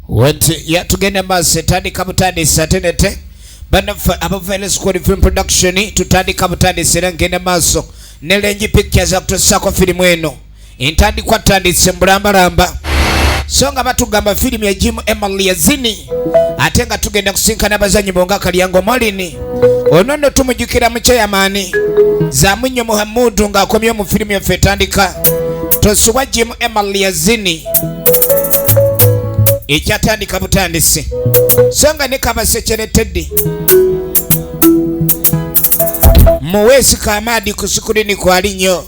wati yatugenda maaso etandika butandisi ate nete banaffe abavaile school film production tutandika butandisi era ngenda maaso ne lengi pictures akutusaako firimu eno entandikwa tandise mbulambalamba so nga batugamba firimu ya jimu emily yazini ate nga tugenda kusinkana abazanyi bonga kalyango molini ono no tumujukira mukyeyamaani zamunyo muhamudu ng'akomyewo mu firimu yaffe etandika tosubwa jimu emily yazini ekyatandika butandisi so nga ne kabasekere teddi muweesi kamaadi ku sikulini kwali nnyo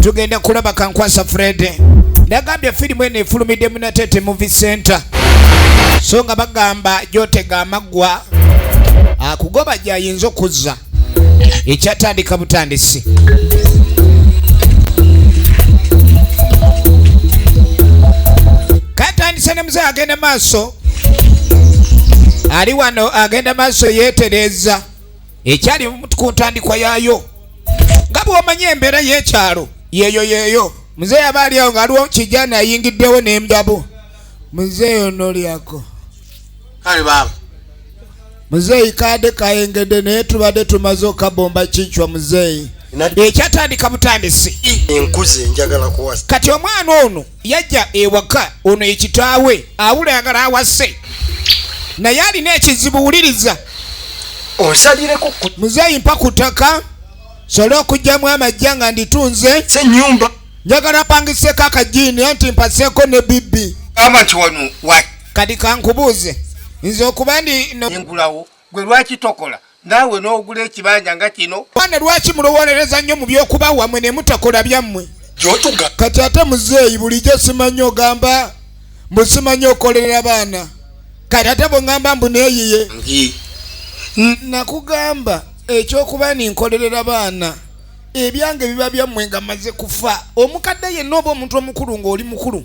tugenda kulaba kankwasa fred nagambye firimu eno efulumidde munatete muvi center so nga bagamba gyotega amaggwa akugoba ah, gyayinza okuzza ekyatandika butandisi katandise ne muzeyi agenda maaso ali wano agenda maaso yeetereeza ekyali ku ntandikwa yaayo nga bwomanyi embeera y'ekyalo yeeyo yeeyo muzeeyi aba ali awo ngaaliwo kijana ayingiddewo n'emdabu muzeeyi onolyako kale baaba muzeeyi kaade kayengedde naye tubadde tumaze okabomba kincwa muzeeyi ekyatandika butandisi enkuzi enjagala kuwasa kati omwana ono yajja ewaka ono ye kitaawe awulangala awase naye alina ekizibu wuliriza onsalireko muzeeyi mpa ku ttaka sola okugyamu amajja nga nditunze senyumba njagala pangiseko akajiini anti mpaseko ne bibbi kati kankubuuze nze okuba ndi ngulawo gwe lwaki tokola naawe n'ogula ekibanja nga kino bana lwaki mulowolereza nnyo mu byokuba wamwe ne mutakola byammwe gyotuga kati ate muzeeyi bulijjo simanyi ogamba mbu simanyi okolerera baana kati ate bwengamba mbu neeyiye nakugamba ekyokuba ninkolerera baana ebyange biba byammwe nga maze kufa omukadde yenna oba omuntu omukulu ng'oli mukulu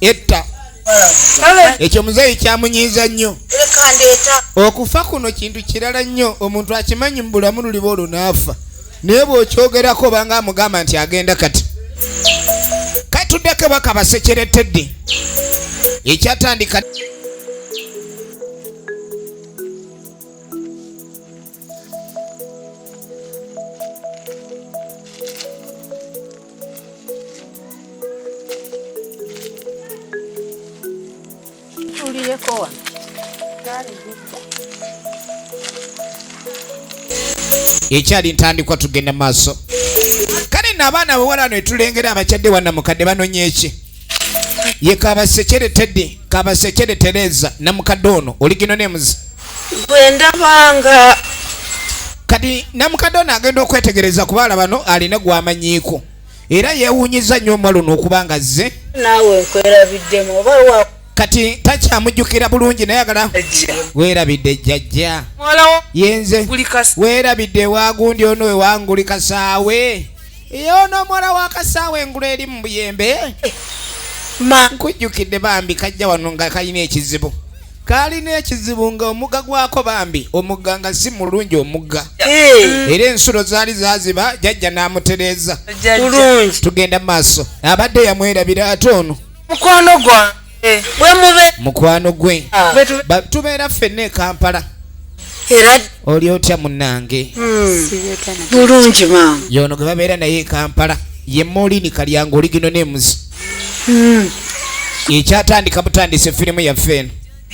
etta ekyo muzeeyi kyamunyiiza nnyo okufa kuno kintu kirala nnyo omuntu akimanyi mu bulamu luliba olwo naafa naye bw'okyogerako obanga amugamba nti agenda kati katuddeko bakabasekeretedde ekyatandika Tuulireko wano. ekyali ntandikwa tugenda maaso kale no abaana bawala no etulengera abakyadde wanna mukadde banonya eki ye kabasekere teddy kabasekere tereza namukadde ono oligino nemuzi bwendabanga kati namukadde ono agenda okwetegereza ku baala bano alina gwamanyiiko era yewunyiza nnyo omwa luno okuba nga zze naawe nkwerabiddemu oba wa kati takyamujjukira bulungi naye agala weerabidde jjajja yenze weerabidde ewagundi ono ewanguli kasaawe yoono omuwala wa kasaawa engulu eri mu buyembe ma nkujjukidde bambi kajja wano nga kalina ekizibu kalina ekizibu nga omugga gwako bambi omugga nga si mulungi omugga eh. era ensulo zaali zaziba jajja n'amutereeza tugenda maaso abadde yamwerabira ate ono mukwano gwa eh, mukwano gwe ah. tubeera ffenna ekampala era oli otya munange hmm. bulungi maama yono gwe babeera naye ekampala ye molini kalyango oligino nemuzi hmm. ekyatandika butandise firimu yaffe eno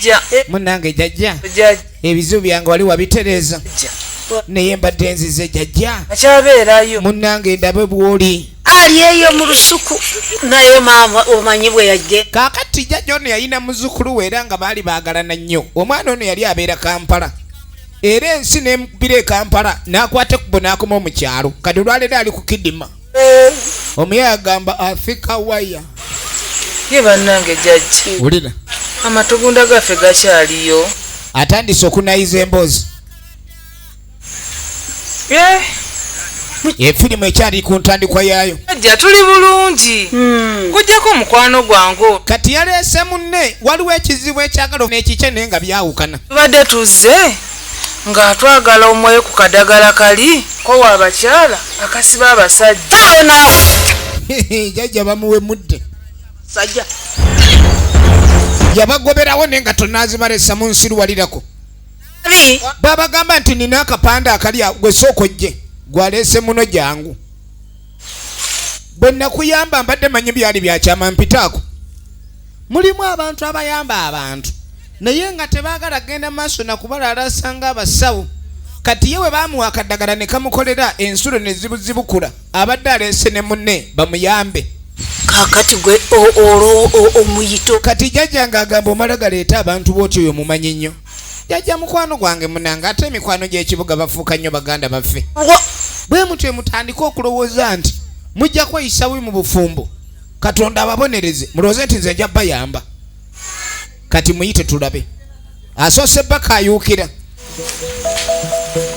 eh. munange jajja ebizibu byange wali wabitereeza naye mbadde nzize jajja munange ndabe bwoli ali eyo mu lusuku naye maama omanyi bwe yajje kaakati jjajja ono yalina muzzukulu we era nga baali baagalana nnyo omwana ono yali abeera kampala era ensi nemubira ekampala n'akwata ekkubo n'akomawo mu kyalo kati olwaleero ali ku kidima eh. omuyaye agamba afika waya ye bannange jajji wulira amatugunda gaffe gakyaliyo atandise okunayiza emboozi Eh. efirimu ekyali ku ntandikwa yaayo ajja tuli bulungi hmm. kujjako omukwano gwangu kati yaleese munne waliwo ekizibu ekyagala n'ekikye naye nga byawukana tubadde tuzze nga twagala omwoyo ku kadagala kali kowa abakyala akasiba abasajja jajja bamuwe mudde sajja yabagoberawo naye nga tonazibalesa mu nsi luwalirako babagamba nti nina akapande akali gwe sooka ojje gwaleese muno jangu bwe nakuyamba mbadde manyi byali byakyama mpitaako mulimu abantu abayamba abantu naye nga tebaagala kgenda maaso nakubalaalasa nga abasawo kati ye we bamuwa akadagala ne kamukolera ensulo ne zibuzibukula abadde aleese ne munne bamuyambe kakati gwe omuyito kati jajja nga agamba omala galeeta abantu booti oyo mumanyi nnyo jajja mukwano gwange munange ate emikwano gy'ekibuga bafuuka nnyo baganda baffe bwe mutyo mutandike okulowooza nti mujja kweyisa bubi mu bufumbo katonda ababonereze mulowooze nti nze nja bayamba kati muyite tulabe asoose baka ayuukira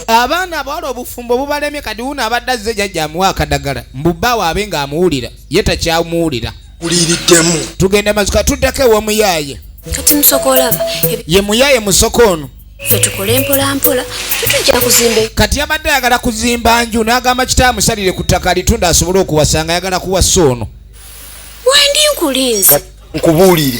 abaana abawala obufumbo bubalemye kati wuno abadde azze jajja amuwa akadagala mbubbaawo abe ng'amuwulira ye takyamuwulira uliiriddemu tugenda mazuka tuddako ewomuyaaye kati musoko olaba ye muyaaye musoko ono fe tukole mpolampola tetujja kuzimba kati yabadde ayagala kuzimba nju n'agamba kitaawe musalire ku ttaka alitunda asobole okuwasanga ayagala kuwasa ono wendi nkulinze nkubuulire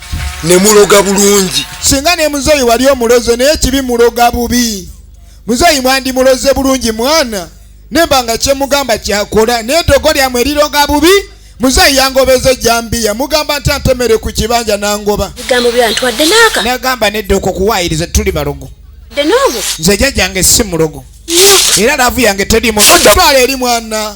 ne muloga bulungi singa ne muzeeyi wali omuloze naye kibi muloga bubi muzeeyi mwandi muloze bulungi mwana nemba nga kyemugamba kyakola naye togo lyamwe liroga bubi muzeeyi yangobeza ejambiya mugamba nti antemere ku kibanja nangoba bigambo byantwadde naaka nagamba nedda okwo kuwaayiriza tuli balogo nze jajjange si mulogo era laavu yange terimu totwala eri mwana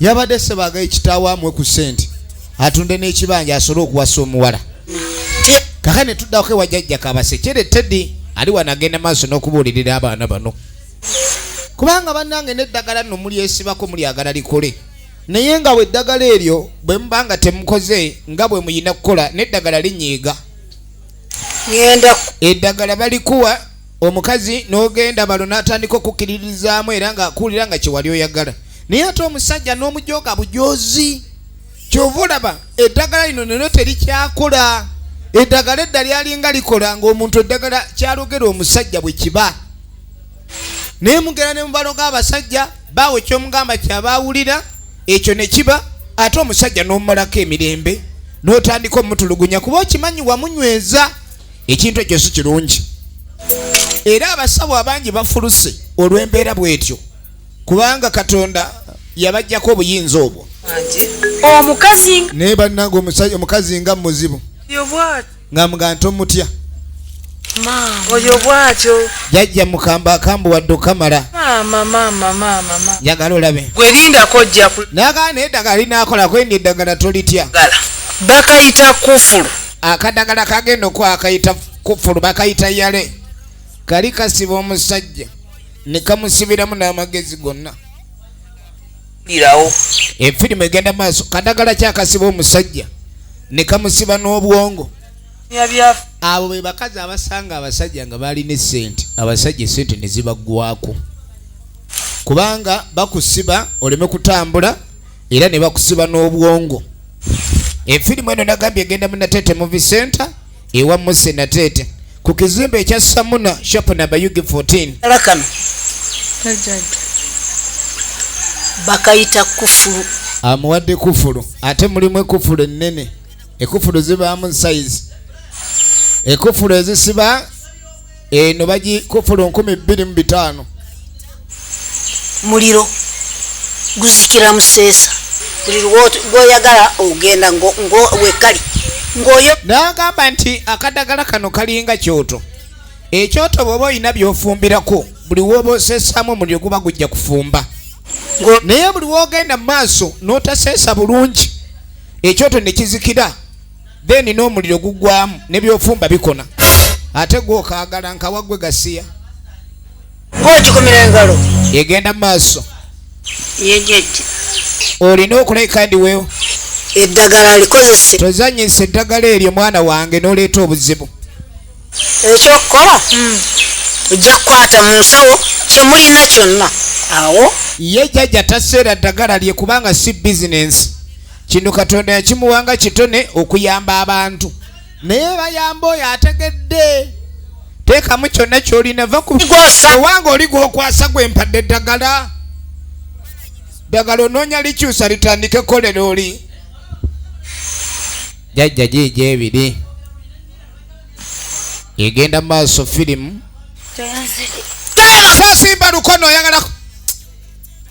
yabadde sebagaye kitaawo amwe ku sente atunde n'ekibanja asobole okuwasa omuwala kaka ne tuddako ewa jajja kabasekyere teddy ali wanagenda maaso n'okubuulirira abaana bano kubanga bannange n'eddagala nno mulyesibako mulyagala likole naye nga weddagala eryo bwe muba nga temukoze nga bwe muyina kukola n'eddagala linyiiga eddagala balikuwa omukazi n'ogenda balo n'atandika okukkiririzaamu era nga akuwulira nga kyewali oyagala naye ate omusajja n'omujooga bujoozi kyova olaba eddagala lino neno terikyakola eddagala edda lyalinga likola ng'omuntu eddagala kyalogera omusajja bwe kiba naye mugera ne mubaloga abasajja baawe kyomugamba kyaba awulira ekyo ne kiba ate omusajja n'omumalako emirembe n'otandika omutulugunya kuba okimanyi wamunyweza ekintu ekyo si kirungi era abasawo abangi bafuluse olw'embeera bwetyo kubanga katonda yabajjako obuyinza obwo omukazi naye bannanga omusajja omukazi nga muzibu nga muga nti omutya oyo bwatyo jajja mukamba akambu wadde okamala njagala olabe gwelindako ojjaku nagaa naye eddagala linakolako endi eddagala tolitya bakayita kufulu akadagala kagenda okwakayita kufulu bakayita yale kali kasiba omusajja ne kamusibiramu n'amagezi gonna efirimu egenda maaso kadagala kyakasiba omusajja ne kamusiba n'obwongo abo be bakazi abasanga abasajja nga baalina esente abasajja esente ne zibaggwako kubanga bakusiba oleme kutambula era ne bakusiba n'obwongo efirimu eno nagambye egenda mu nateete muvi center ewa muse nateete ku kizimbe ekya samuna shop namba ug 14 bakayita kufulu amuwadde kufulu ate mulimu ekufulu ennene ekufulu zibaamu size ekufulu ezisiba eno bagikufulu nkumi bbiri mu bitaano muliro guzikira museesa buli lwoyagala ogenda wekali ngoyo nagamba nti akadagala kano kalinga kyoto ekyoto bwoba olina byofumbirako buli woba osesamu omuliro guba gujja kufumba naye buli wogenda mu maaso notaseesa bulungi ekyoto nekizikira then n'omuliro gugwamu nebyofumba bikona ate gwokagala nkawagwe gasiya egenda mu maaso olina okuleka ndiwewo eddagala alikozese tozanyisa eddagala eryo mwana wange noleeta obuzibu ekyokukola hmm. ojja kukwata mu nsawo kyemulina kyonna awo ye jajja taseera ddagala lye kubanga si bizinensi kino katonda yakimuwa nga kitone okuyamba abantu naye bayamba oyo ategedde teekamu kyonna kyolina va kuwanga oli gwokwasa gwe mpadde eddagala ddagala onoonya likyusa litandike kolera oli jajja giija ebiri egenda maaso firimu sasimba lukono oyagala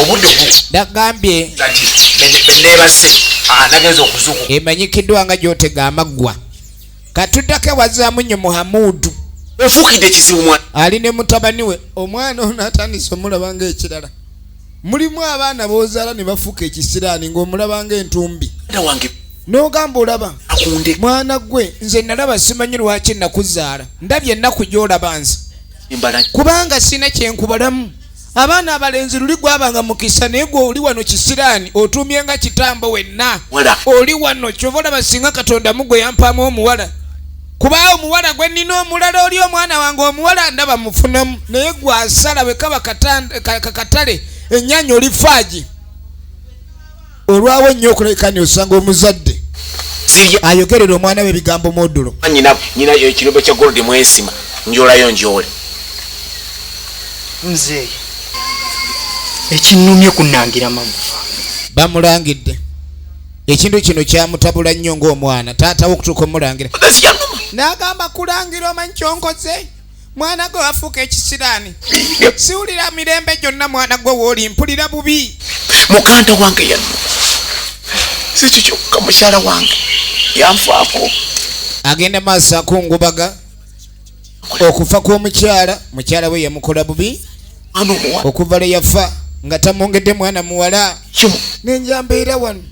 obudde nagambye benebaze ah, nagenza okuzuku emanyikiddwa nga gyotega amaggwa katudako ewazaamu nyo muhamudu ofukidde ekizibu mwana ali ne mutabani we omwana ono atandise omulaba nga ekirala mulimu abaana bozaala ne bafuuka ekisiraani ng'omulaba nga entumbi n'ogamba olaba mwana gwe nze nalaba simanyi lwaki nakuzaala ndabye ennaku gy'olaba nze kubanga sina kyenkubalamu abaana abalenzi luli gwabanga mukisa naye gwe oli wano kisiraani otuumye nga kitambo wenna oli wano kyova olaba singa katonda mugwe yampaamu omuwala kuba omuwala gwe nnina omulala oli omwana wange omuwala ndaba mufunamu naye gwasala bwe kaba kakatale ennyanya oli faagi olwawo nnyo okulabika ni osanga omuzadde ayogerera omwana we ebigambo modulo nyina nyina ekirombe kya gold mwensima njolayo njole mzee ekinumye kunangira magufa bamulangidde ekintu kino kyamutabula nnyo ngaomwana taatawo okutuuka omulangira n'agamba kulangira omanyi kyonkoze mwana gwe wafuuka ekisiraani siwulira mirembe gyonna mwana gwe wooli mpulira bubi muganda wange yanu sikyo kyokka mukyala wange yanfaako agenda maaso akungubaga okufa kw'omukyala mukyala we yamukola bubi okuva lwe yafa nga tamwongedde mwana muwala nenjambeera wano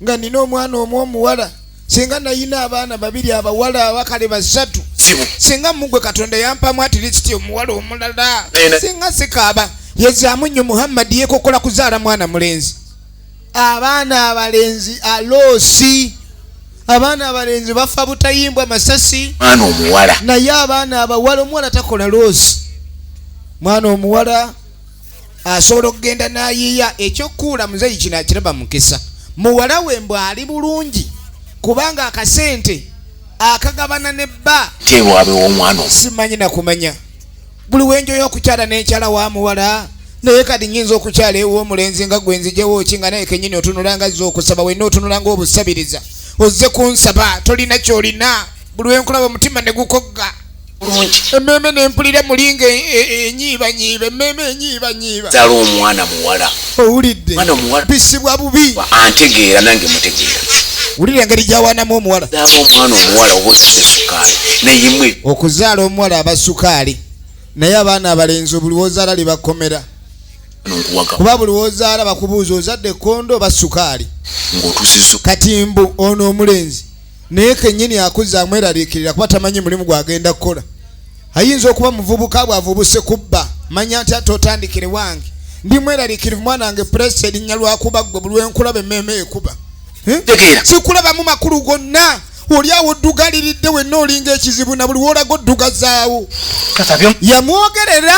nga nina omwana omu omuwala singa nayina abaana babiri abawala abakale basatu singa mugwe katonda yampamu atirisiti omuwala omulala singa sikaaba yezamu nnyo muhammadi yekokola kuzaala mwana mulenzi abaana abalenzi aloosi abaana abalenzi bafa butayimbwa masasi mwana omuwala naye abaana abawala omuwala takola loosi mwana omuwala asobola okugenda nayiiya ekyokukuula muzeyi kino akiraba mukisa muwala we mbu ali bulungi kubanga akasente akagabana ne bba tewabe womwana simanyi nakumanya buli wenjoyo okukyala nenkyala wa muwala naye kati nyinza okukyala ew'omulenzi nga gwe nzijewo ki nga naye kenyini otunula nga zza okusaba wenna otunula nga obusabiriza ozze kunsaba tolina kyolina buli wenkulaba omutima ne gukogga emmeeme nempulira mulinga e, e, e, enyiibanyiiba emmeeme enyiibanyiiba zala omwana muwala owulidde mwana muwala bisibwa bubi antegeera nange mutegeera wulira engeri gyawanamu omuwala zala omwana omuwala oba osize sukaali nayemwe okuzaala omuwala aba sukaali naye abaana abalenzi buli wozaala libakomera kuba buli wozaala bakubuuza ozadde kondo oba sukaali kati mbu ono omulenzi naye kenyini akuza amweraliikirira kuba tamanyi mulimu gwagenda kukola ayinza okuba muvubuka bwavubuse kubba manya nti ate otandikire wange ndi mweraliikirivu mwana wange pulesi erinnya lwakuba gwe buli wenkulaba emmeema ekuba eh? sikulabamu makulu gonna oli awo oddugaliridde wenna olinga ekizibu na buli wolaga oddugazaawo yamwogerera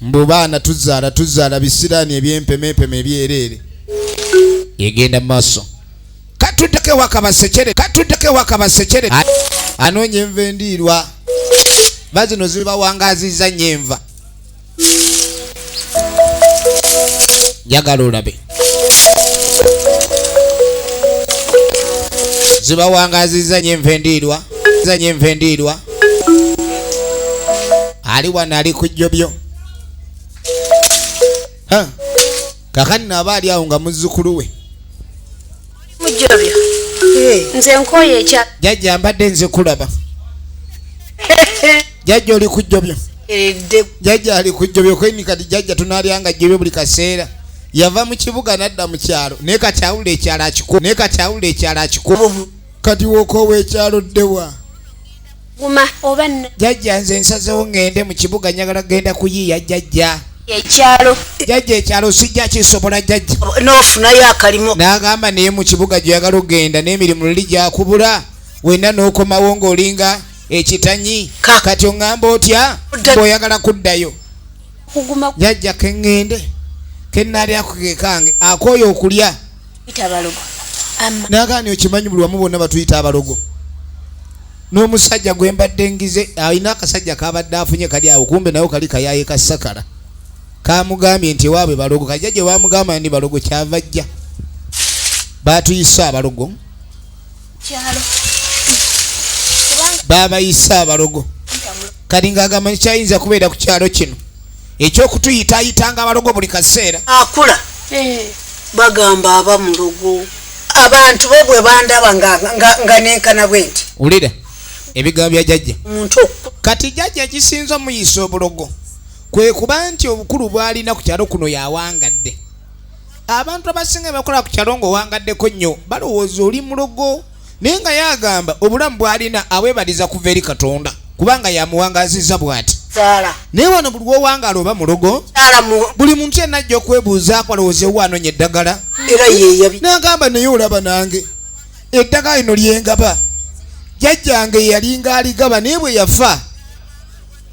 mbu baana tuzaala tuzaala bisiraani ebyempemepeme ebyereere egenda mu maaso katuddeko ewaka basekere katuddeko ewaka basekere anoonya enva endiirwa ba zino zibawangaziza nyo enva njagala olabe zibawangazizza nyo enva endiirwa za nyo enva endiirwa ali wano ali ku jjobyo kakati naaba ali awo nga muzzukulu we nze nkoye ekya jajja mbadde nze kulaba jajja oli kujjobyo jajja ali kujjobyo kweni kati jajja tunalyanga jjobyo buli kaseera yava mu kibuga nadda mu kyalo naye kati awulira ekyalo akikuba naye kati awulira ekyalo akikuba kati wokoowa ekyalo ddewa guma oba no jajja nze nsazewo ngende mu kibuga njagala kugenda kuyiiya jajja ekyalo jajja ekyalo sijja kisobola jajja n'ofunayo akalimu n'agamba naye mu kibuga gyoyagala okugenda n'emirimu luli gyakubula wenna n'okomawo ng'olinga ekitanyi kati oŋŋamba otya bw'oyagala kuddayo jajja keŋŋende kennaali akukekange akooye okulya nagani okimanyi buli wamu bonna batuyita abalogo n'omusajja gwe mbadde ngize alina akasajja kabadde afunye kali awo kumbe nayo kali kayaye kasakala kamugambye nti ewaabwe balogo kajja gye bamugamba ndi balogo kyava jja batuyise abalogo kyalo baabayise abalogo kati ng'agamba ntikyayinza kubeera ku kyalo kino ekyokutuyitayitanga abalogo buli kaseera akula eh. bagamba aba mulogo abantu bo bwe bandaba nga nenkana bwe nti wulira ebigambo bya jajja kati jajja kisinza omuyisa obulogo kwe kuba nti obukulu bwalina ku kyalo kuno yawangadde abantu abasinga bakola ku kyalo nga owangaddeko nnyo balowooza oli mulogo naye nga yagamba obulamu bwalina abwebaliza kuva eri katonda kubanga yamuwangaziza bwati naye wano buli wowangaala oba mulogo buli muntu yenna ajja okwebuuza akwalowoozewo anonya eddagala nagamba naye olaba nange eddagala lino lyengaba jajjange yalinga aligaba naye bwe yafa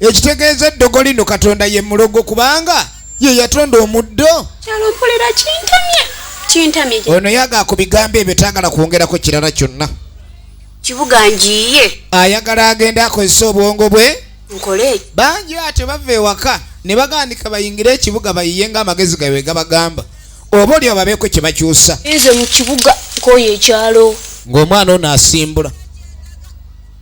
ekitegeeza eddogo lino katonda ye mulogo kubanga ye yatonda omuddo ono yaga ku bigambo ebyo tayagala kwongerako kirala kyonna kibuga njiye ayagala agenda akozesa obwongo bwe nkole bangi atyo bava ewaka ne bagandika bayingire ekibuga bayiye nga amagezi gawe gabagamba oba olyo babeeko kye bakyusa nze mu kibuga nkoyo ekyalo ng'omwana ono asimbula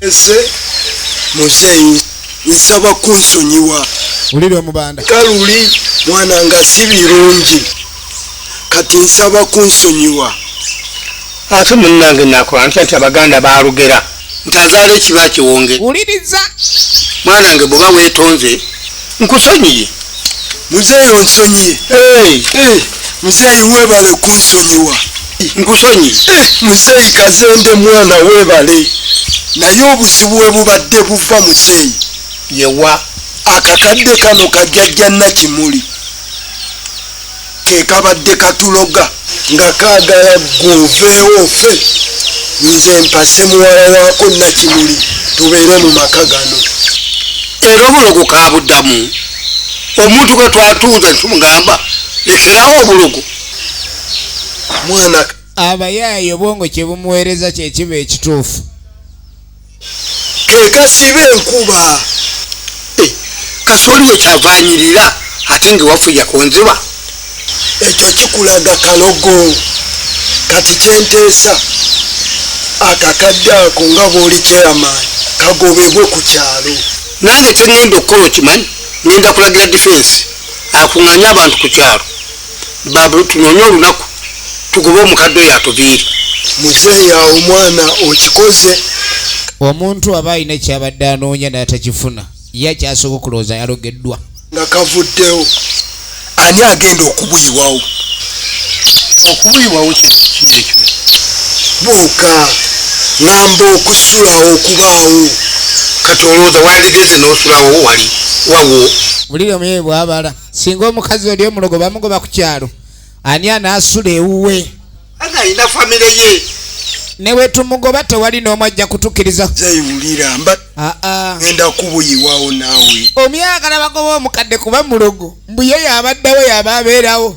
Ese muzeyi nsaba kunsonyiwa uliri omubanda kaluli mwana nga si birungi kati nsaba kunsonyiwa ate munange nakola ntya nti abaganda balugera nti azaala ekiba kiwonge uliriza mwana nge bwoba wetonze nkusonyiye muzeyi onsonyiye muzeyi webale kunsonyiwa nkusonyiye muzeeyi kazende mwana webale naye obuzibu webubadde buva muzeeyi yewa akakadde kano kajajja nakimuli kekabadde katuloga nga kagala gwoveewo ofe nze mpase muwala wako nakimuli tubeere mu maka gano era obulogo kabuddamu omuntu bwetwatuuza ntumugamba lekerawo obulogo mwana abayaaye obwongo kye bumuweereza kye kiba ekituufu kekasiba enkuba eh, kati oliwo kyavanyirira ate nga ewafuja ku nziba ekyo kikulaga kalogo kati kyenteesa akakadde ako nga bwoli chairman kagobebwe ku kyalo nange kyengenda okukola okimanyi ngenda kulagira defense akunganye abantu ku kyalo babu tunonya olunaku tugobe omukadde oyo atuviiri muzeeya omwana okikoze omuntu aba alina ekyabadde anoonya natakifuna ye akyasobola okulowooza yalogeddwa nga kavuddewo ani agenda okubuyiwawo okubuyiwawo kyekyo bwoka ngamba okusulawo okubaawo kati olowooza wandigeze nosulawo wali wawo bulire muye bwabala singa omukazi oli omulogo bamugoba ku kyalo ani anaasula ewuwe ana alina famire ye newetumugoba tewali n'omu ajja kutukiriza zaiwulira mba ah, ah. enda kubuyiwawo naawe omyagala bagoba omukadde kuba mulogo mbuye yabaddawo yaba abeerawo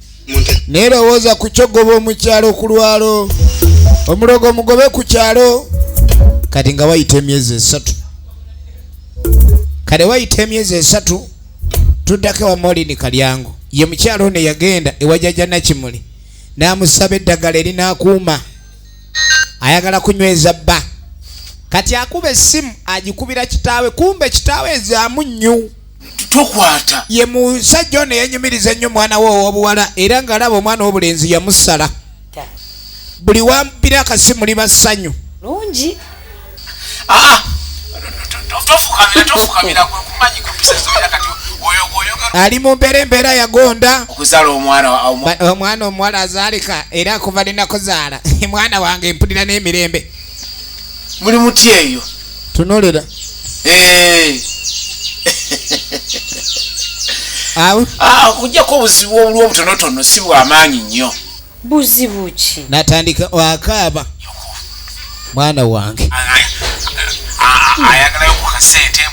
naye lowooza ku kyogoba omukyalo okulwalo omulogo omugobe ku kyalo kati nga wayita emyezi esatu kale wayita emyezi esatu tuddako ewa molini kalyango ye mukyalo ono eyagenda ewajaja nakimuli n'amusaba eddagala erinakuuma ayagala kunyweza bba kati akuba essimu agikubira kitaawe kumbe kitaawe ezaamu nnyu tokwata ye musajja ono yanyumiriza ennyo omwana we owobuwala era ng'alaba omwana wobulenzi yamusala buli wampira akasimu liba ssanyu lungi ah, ali mu mbeera embeera yagonda omwana omuwala azaalika era akuva linakuzaala mwana wange mpulira n'emirembe muli mutya eyo tunolera eh. ah, okujjako obuzibu obuli obutonotono si bwamaanyi nnyo buzibu ki natandika wakaaba mwana wange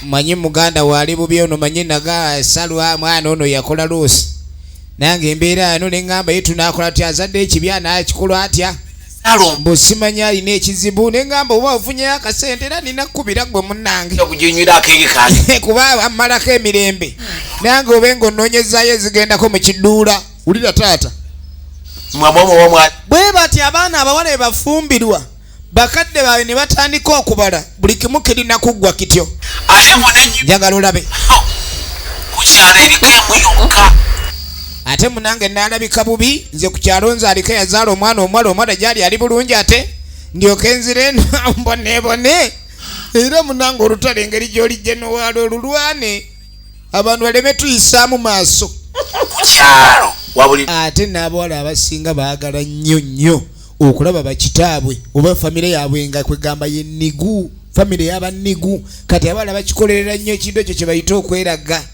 manyi muganda waali bubi ono manyi naga salwa mwana ono yakola luusi nange embeera yano neŋŋamba ye tunakola ti azadde ekibi anaakikola atya mbu simanyi alina ekizibu nengamba oba ofunyeyo akasente era nina kukubira gwe munange kuba amalako emirembe nange obe nga ononyezayo ezigendako mu kiduula wulira taata bwe bati abaana abawala ebafumbirwa bakadde baabwe ne batandika okubala buli kimu kirina kuggwa kityo njagala olabe oh, ate munange nalabika bubi nze ku kyalo nze aliko yazaala omwana omuwala omuwala gyali ali bulungi ate ndyoke nzire mbonebone era munange olutala engeri gyoli genowaala olulwane abantu baleme tuyisaamu maaso kukyalo wabuli ate n'abawala abasinga baagala nnyo nnyo okulaba bakitaabwe oba famire yaabwe nga kwegamba ye nigu famire yaba nigu kati abawala bakikolerera nnyo ekintu ekyo kye bayite okweraga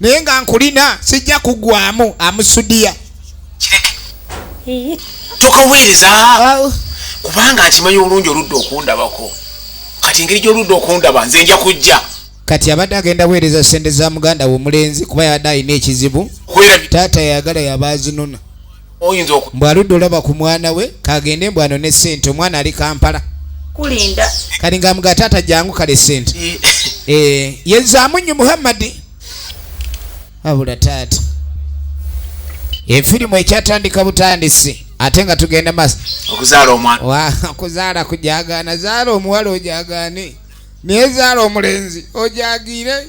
naye nga nkulina sijja kugwamu amusudiya tokaweereza kubanga nkimanyi obulungi oludde okundabako kati engeri gyoludde okundaba nze nja kujja kati abadde agenda weereza sente za muganda we omulenzi kuba yabadde alina ekizibu taata yayagala yaba azinona oyinza oku mbu aludde olaba ku mwana we kagende mbu ano ne sente omwana ali kampala kulinda kali nga mga taata jangu kale sente e eh, yezaamu nnyo muhammadi abula taata efirimu ekyatandika butandisi ate nga tugenda maaso okuzaala omwana okuzaala kujagaana zaala omuwala ojagaane naye zaala omulenzi ojagiire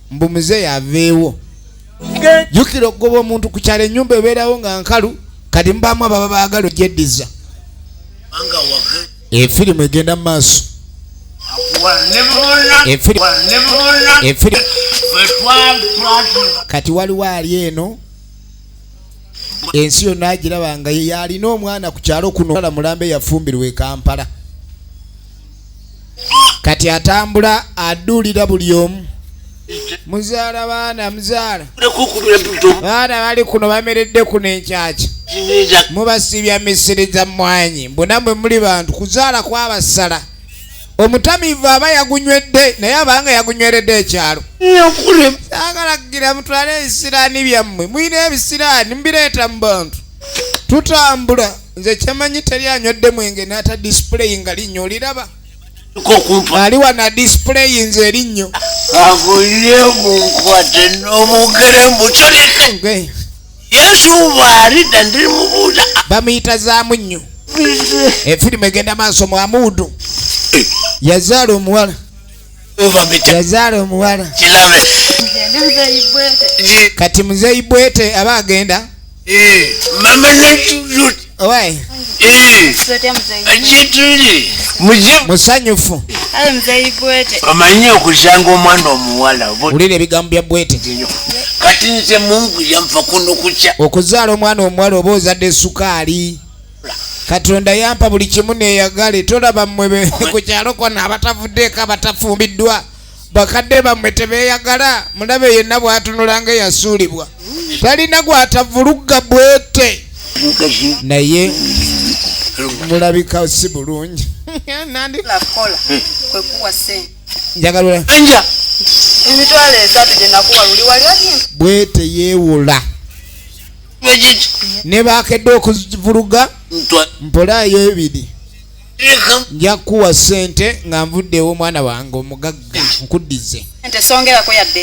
mbu muzeeyi aveewo jukira okugoba omuntu ku kyalo enyumba ebeerawo nga nkalu kati mubaamu ababa baagala ogyeddiza efirimu egenda mu maaso kati waliwo ali eno ensi yonna agiraba nga yalina omwana ku kyalo kuno mulambe yafumbirwa e kampala kati atambula aduulira buli omu muzaala baana muzaala baana bali kuno bameredde kuno enkyakya mubasiibya misiri za mmwanyi mbunamwe muli bantu kuzaala kwabasala omutamiivu aba yagunywedde naye abanga yagunyweredde ekyalo agalagira mutwale ebisiraani byammwe mulina ebisiraani mubireeta mu bantu tutambula nze kyemanyi teri anywedde mwenge naata display nga linnyo oliraba ali wana display nze erinnyo akulire munkwate nomugere mbutaleka yesu bwalidda ndiri mubuuza bamuyita zaamu nnyo efirimu egenda maaso mwamuudu eh. yazaala omuwala yazaala omuwala kati muzeyi bwete aba agenda Eh, mama natulot Owai. Eh, Tuletee mzee. ajetuli muje Musanyufu. Awe mzee Ibwete. omanyi okusanga omwana omuwala oba Wulira ebigambo bya bwete. otinyo kati nze mungu yampa kuno kukya Okuzaala omwana omuwala oba ozadde sukaali. Katonda yampa buli kimu neeyagale tolaba mmwe be- ku kyalo kona abatavuddeeko abatafumbiddwa bakadde bammwe tebeeyagala mulabe yenna bw'atunula nga eyasuulibwa talina gw'atavulugga bwete naye mulabika si bulungi njagalula emitwalo esatu gye nakuwa luli wali bwete yeewola ne baakedde okuvuluga mpolayo ebiri nja kukuwa sente nga nvuddewo omwana wange omugagga nkuddize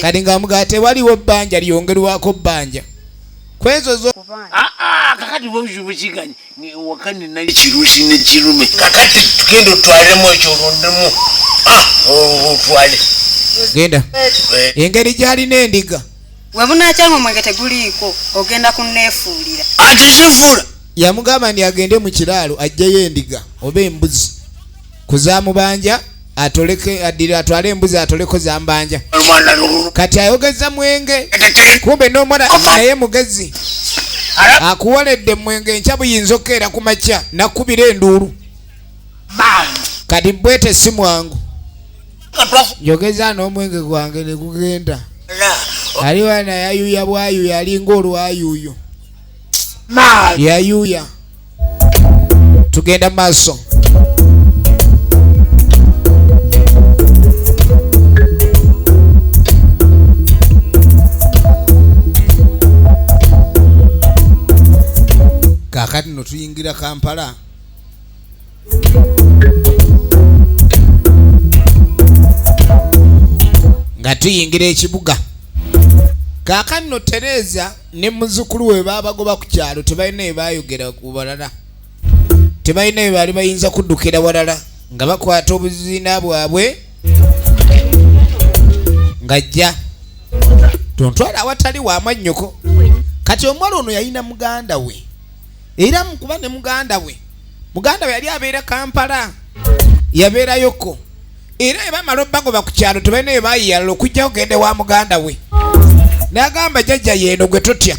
kati nga mugaa tewaliwo bbanja lyongerwako bbanja kwezo zo ah, ah, kakati bobuzibu kiganye wakani nali kirusi ne kirume kakati tugenda otwalemu ekyo olondemu ah, otwale genda eh. engeri gyalina endiga webunakyanga omwenge teguliiko ogenda kunefuulira ati zifuula yamugamba ndi agende mu kiraalo ajjeyo endiga oba embuzi kuzamubanja atoleke adire atwale embuzi atoleko zambanja kati ayogeza mwenge kumbe nomwana naye mugezi akuwoledde mwenge enkya buyinza okukeera ku makya nakubira enduulu kati bwete si mwangu njogeza n'omwenge gwange ne gugenda aliwa nayayuya bwayuya alinga olwayuyo Mad. yayuya tugenda maaso kakati no tuyingira kampala nga tuyingira ekibuga kakati no tereeza ne muzukulu we babagoba ku kyalo tebalina ebayogera ku balala tebalina ebaali bayinza kuddukira walala nga bakwata obuziina bwabwe ngajja tontwala awatali wamwannyoko kati omuwala ono yalina muganda we era mukuba ne muganda we muganda we yali abeera kampala yabeerayoko era bwe bamala obagoba ku kyalo tebalina bye bayiyalala okujja kugenda ewa muganda we n'agamba jajja yeeno gwe totya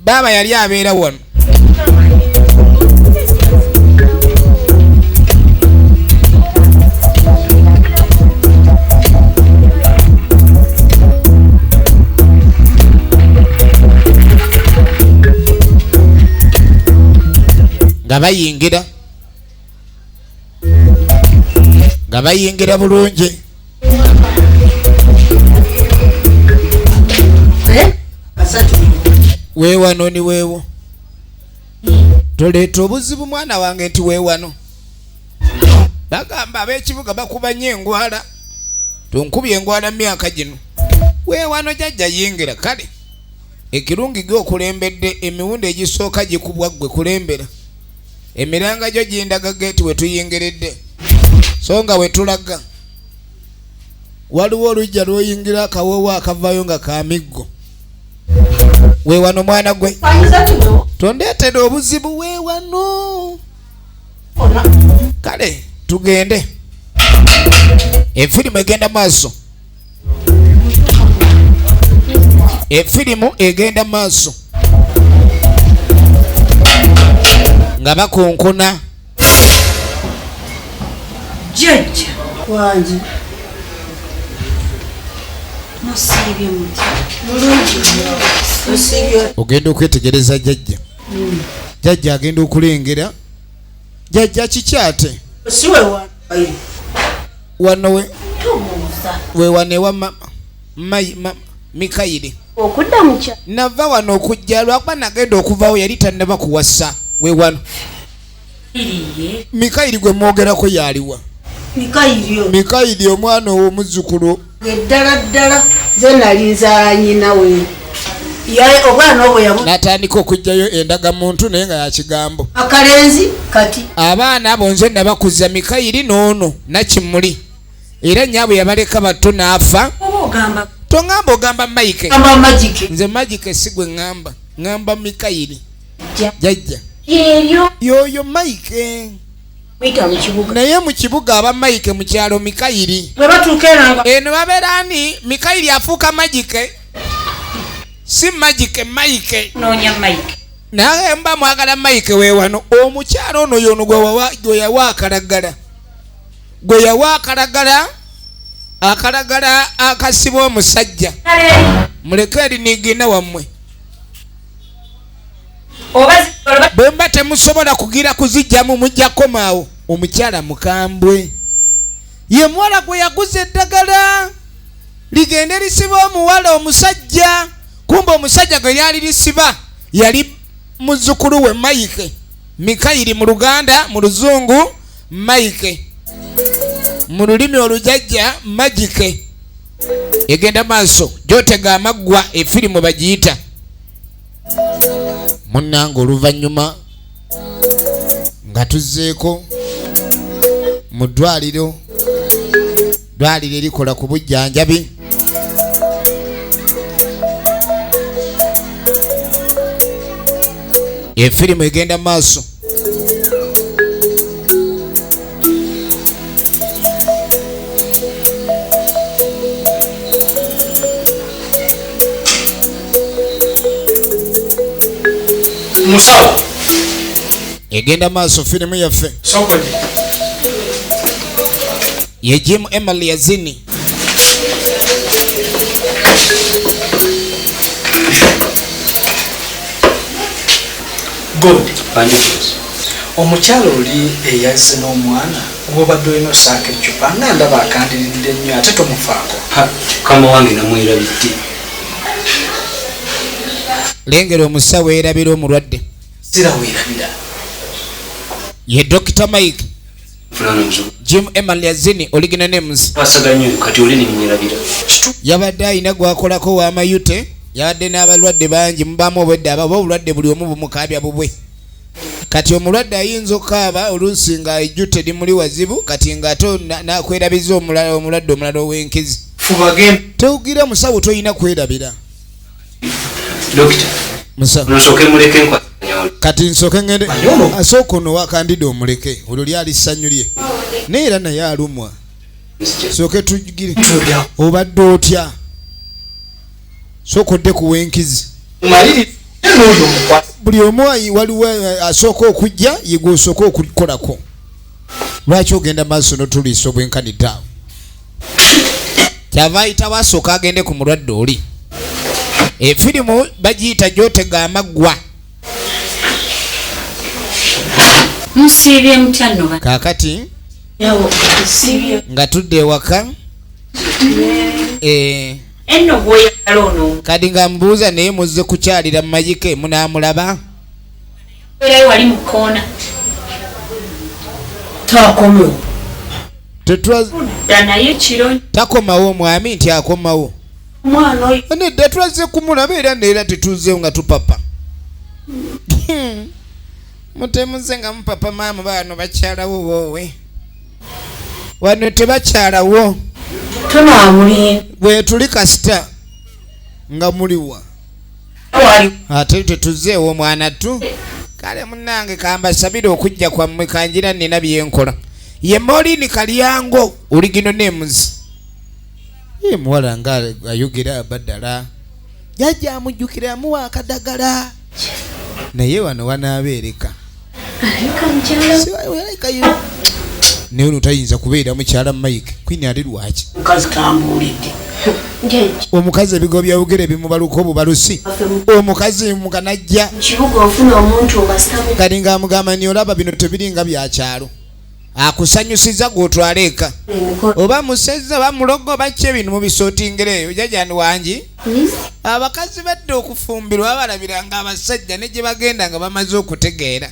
baaba yali abeera wano nga bayingira nga bayingira bulungi weewano ni weewo toleeta obuzibu mwana wange nti weewano bagamba ab'ekibuga bakuba nyo engwala tonkubye engwala myaka gino weewano jajja yingira kale ekirungi gwe okulembedde emiwundi egisooka gikubwa ggwe kulembera emiranga gyo gindaga geeti we tuyingiridde so nga we tulaga waliwo olujja lwoyingira akawoowo akavayo nga kamiggo wewano mwana gwe tondeetera obuzibu wewano kale tugende efirimu egenda maaso efirimu egenda mu maaso nga bakunkuna jajja wangi ogenda okwetegereza jajja hmm. jajja agenda okulengera jajja kikyate siwewa wano we tubuuza wewane wa mama mayi mama mikayiri okudda mukya nava wano okujja lwakuba nagenda okuvawo yali tannaba kuwasa we wano mikayiri gwe mwogerako yaliwa mikayiri omwana owo muzzukulu eddala ddala ze nali nzala nyina we natandika okugyayo endaga muntu naye nga yakigambo akalenzi kati abaana abo nze nabakuza mikayiri noono nakimuli era nyabwe yabaleka bato naafa tongamba ogamba mike nze magike sigwe ngamba ngamba mikayiri jajja yoyo mike naye mu kibuga aba mayike mu kyalo mikayiri eno babeera ni mikayiri afuuka magike si magike mayike naye mba mwagala mayike wewano omukyalo ono yono gwe yawa akalagala gwe yawa akalagala akalagala akasiba omusajja muleke erinigina wammwe bwe mba temusobola kugira kuzijjamu mujja komaawo omukyala mukambwe ye muwala gwe yaguza eddagala ligende lisiba omuwala omusajja kumba omusajja gwe lyali lisiba yali muzukulu we maike mikayiri mu luganda mu luzungu maike mu lulimi olujajja magike egenda maaso gyotega amaggwa efirimu bagiyita munnange oluvannyuma nga tuzzeeko mu ddwaliro ddwaliro erikola ku bujjanjabi efirimu egenda maaso musawo egenda maaso firimu yaffe ye jim emily yazini omukyalo oli eyazze n'omwana gwobadde olina osaako eccupa nga ndaba akandiridde nnyo ate tomufaako kama wange namwerabidde lengera omusawo erabira omulwadde sirawerabira ye dokita mike jim emaliazini oligina names yabadde alina gwakolako wamayute yabadde n'abalwadde bangi mubamu obwedde ababa obulwadde buli omu bumukaabya bubwe kati omulwadde ayinza okukaaba oluusi nga ejjute limuli wazibu kati nga ate nakwerabiza omulala omulwadde omulala ow'enkizi tewugira musawo tolina kwerabira kati nsoke ngende asooka ono wakandida omuleke olwo lyali ssanyu lye naye era naye alumwa soke tugire obadde otya sooka odde kuwenkizi buli omu waliwo eh, asooka okujja yegwe osooka okukolako lwaki ogenda maaso notuliisa obwenkanidde awo kyava ayitawo asooka agende ku mulwadde oli efirimu bagiyita gyotega amaggwa kakati nga tudde ewaka eh. kadi nga mubuuza naye muzze kukyalira mumayike munamulaba Beerayo wali mu kkoona. Takomewo. Tetwadda naye kiro. Takomawo omwami nti akomawo. Omwana oyo. Nedda twazze kumulaba era neera tetuzzeewo nga tupapa. Hmm. Mutemuze nga mupapa maamu baano bakyalawo woowe. Wano tebakyalawo. Tunaamuli. Bwe tuli kasita nga muliwa. ate tetuze ewomwana tu kale munange kambasabire okujja kwammwe kanjira nina byenkola ye molini kalyango oligino nemuzi ye muwala nga ayogera badala jajja amujjukira amuwa akadagala naye wano wanaabeereka naye ono tayinza kubeera mukyala mike kwini ali lwaki omukazi ebigo byawogera ebimubaluka obubalusi omukazi mukanajja kati nga amugamba ni olaba bino tebiringa byakyalo akusanyusiza gwotwala eka oba musezi oba mulogo oba ki ebintu mubisotingereeyo jajani wangi abakazi badde okufumbirwa abalabiranga abasajja ne gye bagenda nga bamaze okutegeera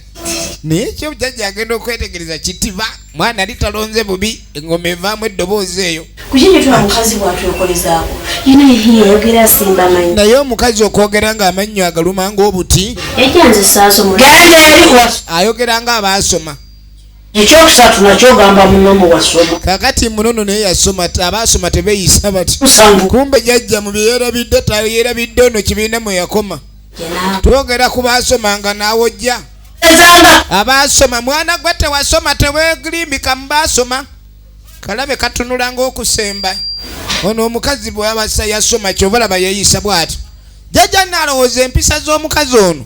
naye ekyo jajja agenda okwetegereza kitiba mwana ali talonze bubi engoma evaamu eddoboozi eyo naye omukazi okwogera nga amannyo agaluma ngaobuti ayogera nga abaasoma ekyokusatu nakyo ogamba muno muwasoma kakati munono naye yasoma abaasoma tebeyisa bati kumbe jajja mu byeyerabidde tayerabidde ono kibiina mwe yakoma twogera ku baasoma nga naawojja abaasoma mwana gwe tewasoma tewegrimbika mu baasoma kalabe katunula ngaokusemba ono omukazi bwabasa yasoma kyobalaba yeyisa bwati jajja nalowooza empisa z'omukazi ono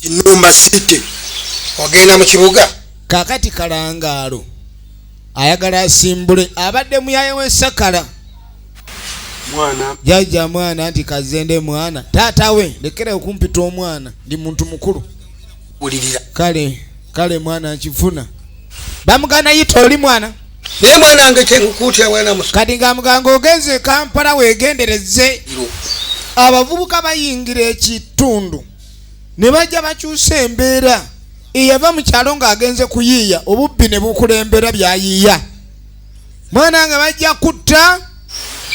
kinumba city ogenda mu kibuga kakati kalangaalo ayagala asimbule abadde muyaye wensakala jajja mwana nti kazende mwana taata we lekera okumpita omwana ndi muntu mukulu ulirira kale kale mwana nkifuna bamugana yita oli mwana naye mwana wange kyenkukuutya mwana musa kati nga muganga ogenze e kampala wegendereze abavubuka bayingira ekitundu ne bajja bakyusa embeera eyava mu kyalo ng'agenze kuyiiya obubbi ne bukulembera byayiiya mwana nga bajja kutta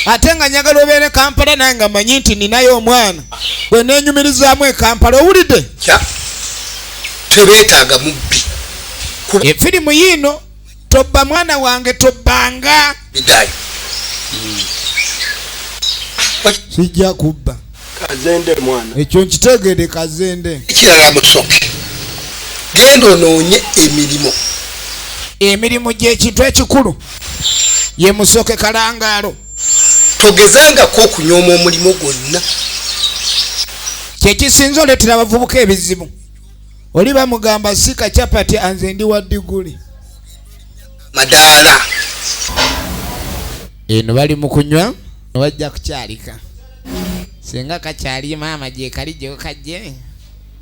ate nga njagala obeere kampala naye nga manyi nti ninayo omwana gwe nenyumirizaamu ekampala owulidde tebeetaaga mubbi efirimu yiino tobba mwana wange tobbanga kijja kubba kazende mwana ekyo nkitegede kazende ekirala musoke genda onoonye emirimu emirimu gyekintu ekikulu ye musoke kalangaalo togezangako okunyooma omulimu gwonna kyekisinza oletera abavubuka ebizibu oli bamugamba sika chapati anze ndi wa diguli madaala eno bali mu kunywa wajja kukyalika singa kakyali maama gyekali gyokajje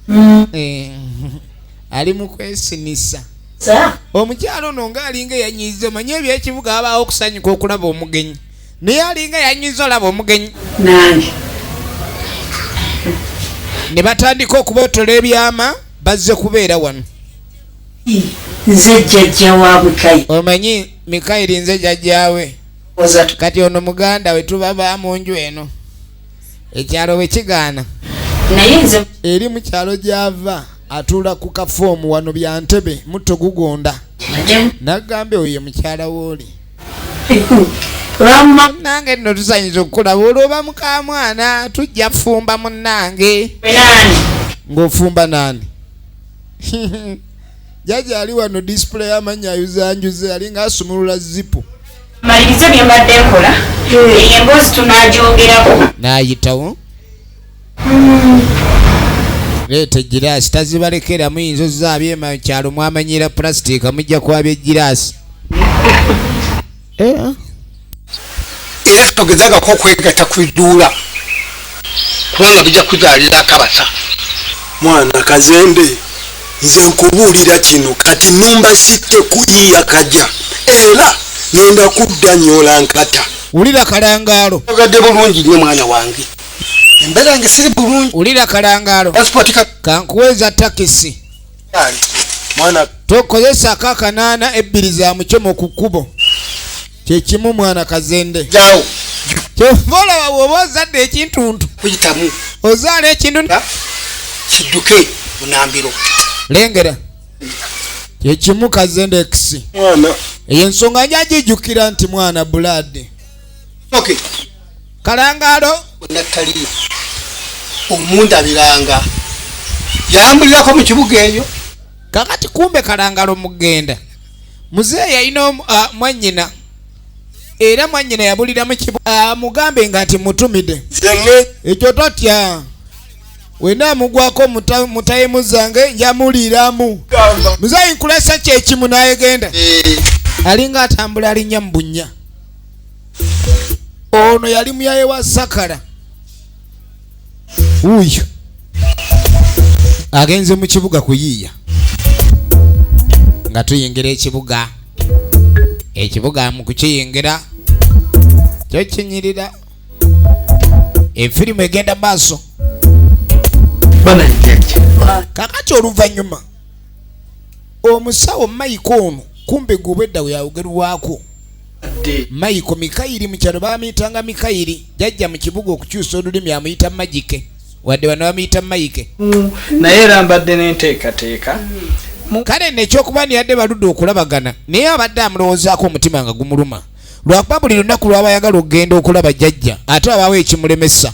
mm. eh, ali mu kwesinisa omukyalo ono ngaalinga eyanyiiza omanye ebyekibuga abaawo okusanyuka okulaba omugenyi naye alinga yanyiza olaba omugenyi nange ne batandika okubotola ebyama bazze kubeera wano nze jjajja wa mikayi omanyi mikayiri nze jjajjawe kati ono muganda we tuba ba mu nju eno ekyalo bwe kigaana naye nze eri mu kyalo gy'ava atuula ku kafoomu wano bya ntebe mutto gugonda nagambye oyo ye mukyala wooli Rama nange nno tusanyuza okukulaba olwoba mukamwana tujja fumba munange ng'ofumba naani jaja ali wano display amannya ayuzanjuze ali ng'asumulula zipu malirize bye mbadde nkola eyo emboozi tunagyogerako naayitawo leeta egiraasi tazibalekera muyinza ozaabye mu kyalo mwamanyira pulasitiika mujja kwabya egiraasi eh? era togezangako okwegatta ku biduula kubanga bijja kuzaalira akabasa mwana kazembe nze nkubuulira kino kati numba sitte ku iya kaja era ngenda kudda nyola nkata wulira kalangaalo ogadde bulungi nnyo mwana wange embeera yange siri bulungi wulira kalangaalo kankuweeza takisi tokozesako akanaana ebbiri za mucoma ku kkubo kyekimu mwana kazende kyova olaba woba ozadde ekintuntu ozaala ekintu kidduke munambiro lengera kyekimu kazende ekisi eyo ensonga njagijukira nti mwana bulaadi kalangaalo nattaliyo omundabiranga yalambulirako mu kibuga eyo kakati kumbe kalangalo mugenda muzeeyi yalina ah, mwanyina era mwanyina yabulira ah, mugambe nga nti mutumide ekyo totya wena amugwako mutayimu zange njamuliiramu muzeeyi nkulesa kyekimu nayegenda eh. alinga atambula alinnya mu bunnya ono yali muyaye wa sakara wuuyo agenze mu kibuga kuyiiya nga tuyingira ekibuga ekibuga mu kukiyingira kyo kinyirira efirimu egenda maaso kakati oluvannyuma omusawo mayika ono kumbe gwe obwedda we yawogerwako mayiko mikayiri mu kyalo bamuyitanga mikayiri jajja mu kibuga okukyusa olulimi amuyita magike wadde bano bamuyita mayike mm. naye era mbadde n'enteekateeka mm. kale nekyokuba niyadde baludde okulabagana naye abadde amulowoozaako omutima nga gumuluma lwakuba buli lunaku lwabayagala okugenda okulaba jajja ate abaawo ekimulemesa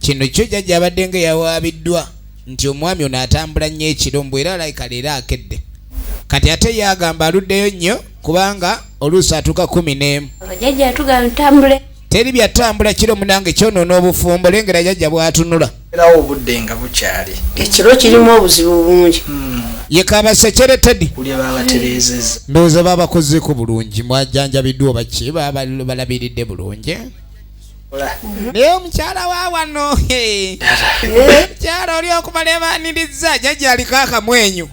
kino kyo jajja abadde nga yawaabiddwa nti omwami ono atambula nnyo ekiro mbu era alayika leero akedde kati ate ye agamba aluddeyo nnyo kubanga oluusi atuuka kumi n'emu teri byatambula kiro munange kyonoona obufumbo lengera jajja bwatunula erawo obudde nga bukyali ekiro kirimu obuzibu bungi hmm. yekabasekere tedi ndowooza babakozeeko bulungi mwajanjabiddwa obaki balabiridde bulungi naye omukyala wa wano mukyala oli okumala ebaniriza jajja aliko akamwenyu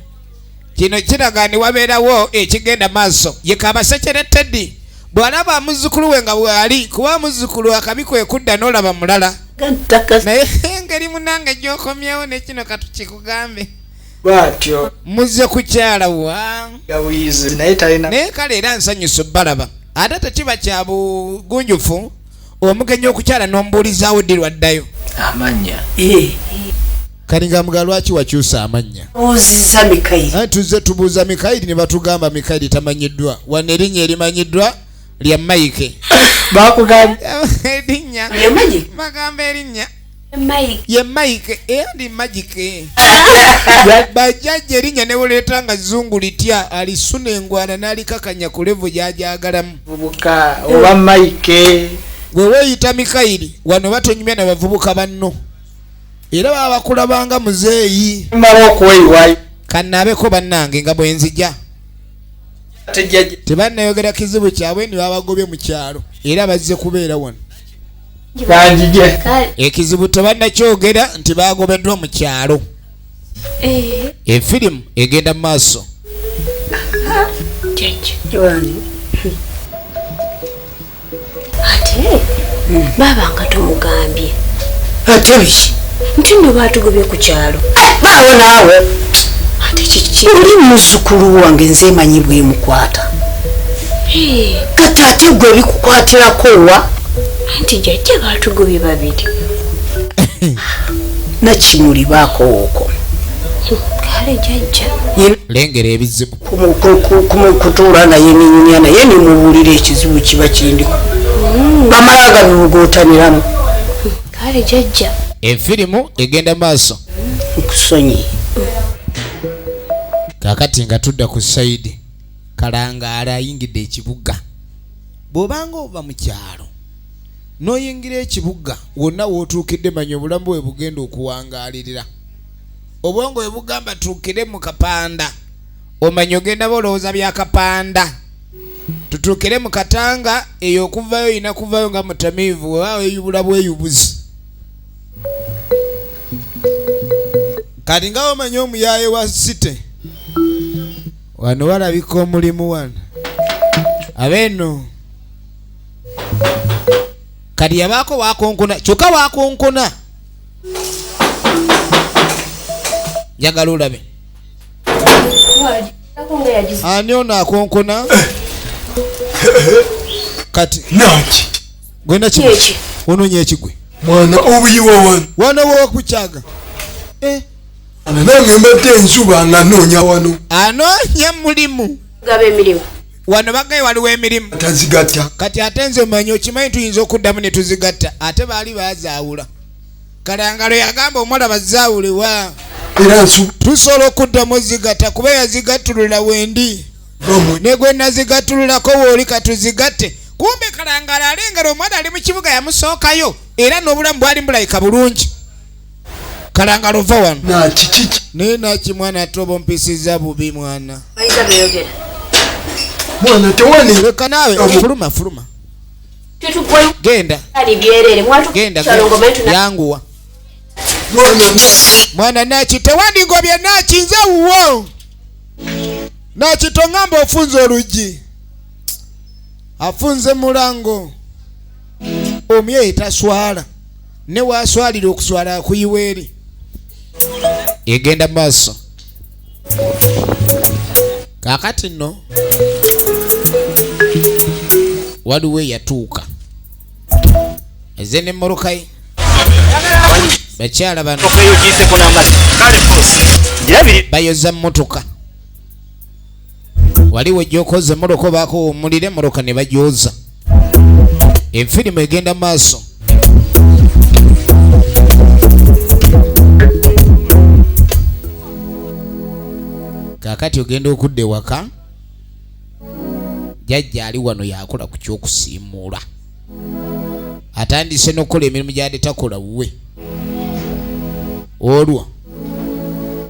kino kiraga ni wabeerawo ekigenda maaso yekabasekere teddy bwalaba muzukulu we nga bwali kuba muzukulu akabi kwekudda nolaba mulala naye engeri munange gyokomyewo nekino katukikugambe bwatyo muzze kukyala wa yabuyizi naye talina naye kale era nsanyusa obbalaba ate tekiba kya bugunjufu omugenyi okukyala n'omubuulizaawo ddi lwaddayo amannya eh. kalinga mga lwaki wakyusa amannya oziza mikayiri eh, tuzze tubuuza mikayiri ne batugamba mikayiri tamanyiddwa wano erinnya erimanyiddwa lya mayike bakugamba erinnya bagamba erinnya ye mike era ndi magike bajjajja erinnya ne buleeta nga zungu litya alisuna engwana n'alikakanya ku levu gy'agyagalamu bubuka oba mike gwe weeyita mikayiri wano batonyumya na bavubuka banno era baba bakulabanga muzeeyi mala okweyiwayo kannaabeko bannange nga bwe nzija tebannayogera kizibu kyabwe ni babagobye mu kyalo era bazze kubeera wano ekizibu tebanakyogera nti bagobeddwa mu kyalo eh. efirimu egenda mu maaso ate baaba nga tumugambye ate biki nti no baatugobye ku kyalo baawo naawe ate kiki oli muzukulu wange nze emanyi bwemukwata kati ate gwe bikukwatirako wa anti jajja batugobye babiri nakimuli bakowooko kale jajja lengera ebizibu kutuula naye ninyumya naye nimubuulira ekizibu kiba kindi hmm. bamala nga bibugotaniramu kale jajja efirimu egenda maaso nkusonyi kakati nga tudda ku saidi kalangaala ayingidde ekibuga bw'obanga ova mu kyalo n'oyingira ekibuga wonna w'otuukidde manya obulamu bwe bugenda okuwangaalirira obwongo bwe bugamba tuukire mu kapanda omanya ogenda bolowooza bya kapanda tutuukire mu katanga eyo okuvayo olina kuvayo nga mutamiivu wewaawo eyubula bweyubuzi kati nga wamanya omuyaaye wa site wano walabika omulimu wano abeeno kati yabaako wakonkona kyokka wakonkona njagala olabe ani ono akonkona kati naki gwena ki ononya ekigwe mwana obuyiwa wano wano wokukyaga eh. nange mbadde enjuba nga noonya wano anoonya mulimu gaba emirimu wano bagaye waliwo emirimu tazigatta kati ate nze manyi okimanyi tuyinza okuddamu ne tuzigatta ate baali bazaawula kalangalo yagamba omuwala bazaawule wa era tusobola okuddamu ozigatta kuba yazigattulula wendi ne gwe nazigattululako wooli katuzigatte kumbe kalangalo alengera omuwala ali mu kibuga yamusookayo era n'obulamu bwali mbulabika bulungi kalangala ova wano naye naki mwana ate oba ompisiza bubi mwana leka naawe fuluma fuluma genda genda yanguwa mwana naki tewandingobye naki nze wuwo naki tongamba ofunze oluggi afunze mulango omyeyi taswala ne waaswalira okuswala akuyiwa eri egenda mu maaso kaakati nno waliwo eyatuuka eze ne morokayi bakyala bano bayoza mmotoka waliwo ejjokoze moloka obaako womulire moloka ne bajooza enfirimu egenda maaso kakati ogenda okudda ewaka jajja ali wano yakola ku kyokusiimuula atandise nokukola emirimu gyade takola wuwe olwo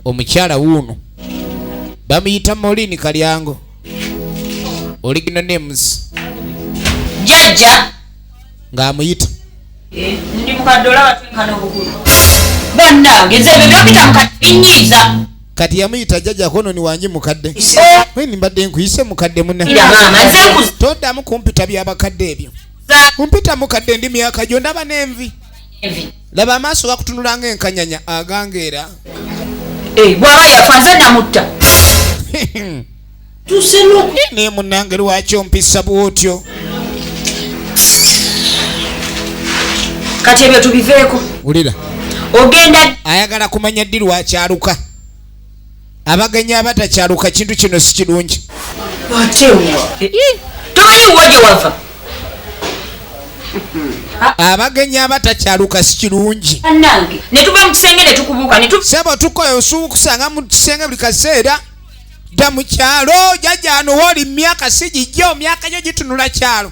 omukyala wuuno bamuyita molini kalyango original names jajja ng'amuyita eh, ndi mukadola watunkana obukulu bannange nze byetwapita mukadinyiiza kati yamuyita jajja kononi wange mukadde weni mbadde nkuyise mukadde muna toddamu kumpita byabakadde ebyo kumpita mukadde ndi myaka gyo ndaba n'envi laba amaaso bakutunula nga enkanyanya agangeera eh, bwaba yafa nze namutta naye munange lwaki ompisa bwotyo kati ebyo tubiveeko wulira ogenda ayagala kumanya ddi lwakyaluka abagenyi abatakyaluka kintu kino si kirungi abagenyi abatakyaluka si kirungi sebo tukola osuuba okusanga mu kisenge buli kaseera dda mu kyalo jajano wooli myaka si gijjo myaka gyo gitunula kyalo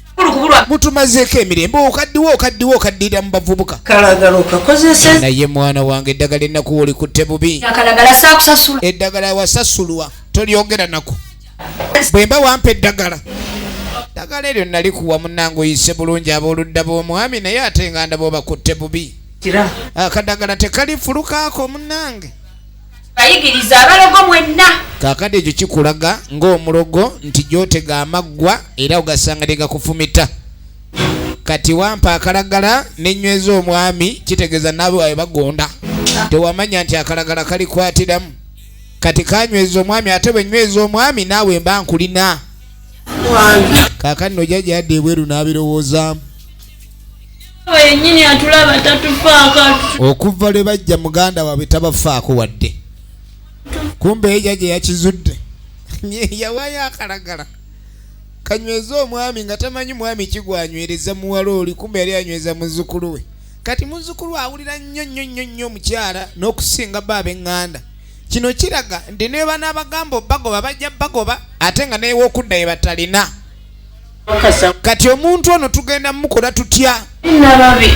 mutumazeeko emirembe okaddiwa okaddiwa okaddirira mu bavubuka naye mwana wange eddagala ennaku wolikutte bubi eddagala wasasulwa tolyogera naku bwemba wampa eddagala ddagala eryo nalikuwa munange oyise bulungi abooludda b'omwami naye ate nga ndaba obakutte bubi akadagala tekalifulukaako munange bayigiriza abalogo mwenna kakati ekyo kikulaga ng'omulogo nti gyotega amaggwa era ogasanga tegakufumita kati wampa akalagala nenyweza omwami kitegeeza naabo abe bagonda tewamanya nti akalagala kalikwatiramu kati kanyweza omwami ate bwenyweza omwami naawe mba nkulina kakati nojaja yadde ebweru n'abirowoozaamu yenyini atulaba tatufaako okuva lwe bajja muganda waabwe tabafaako wadde kumbe eja gye yakizudde yawayo akalagala kanyweze omwami nga tamanyi mwami kigwanywereza muwala oli kumbe yali anyweza muzukulu we kati muzukulu awulira nnyo nnyo nnyo nnyo omukyala n'okusinga bba ab'eŋŋanda kino kiraga nti nebanaabagamba obagoba bajja bagoba ate nga newookudda ye batalina kati omuntu ono tugenda mukola tutya nababi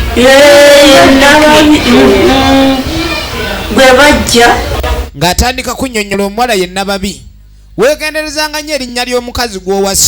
gwebajja ng'atandika kunyonyola omuwala ye nababi wegenderezanga nyo erinnya ly'omukazi gw'owasa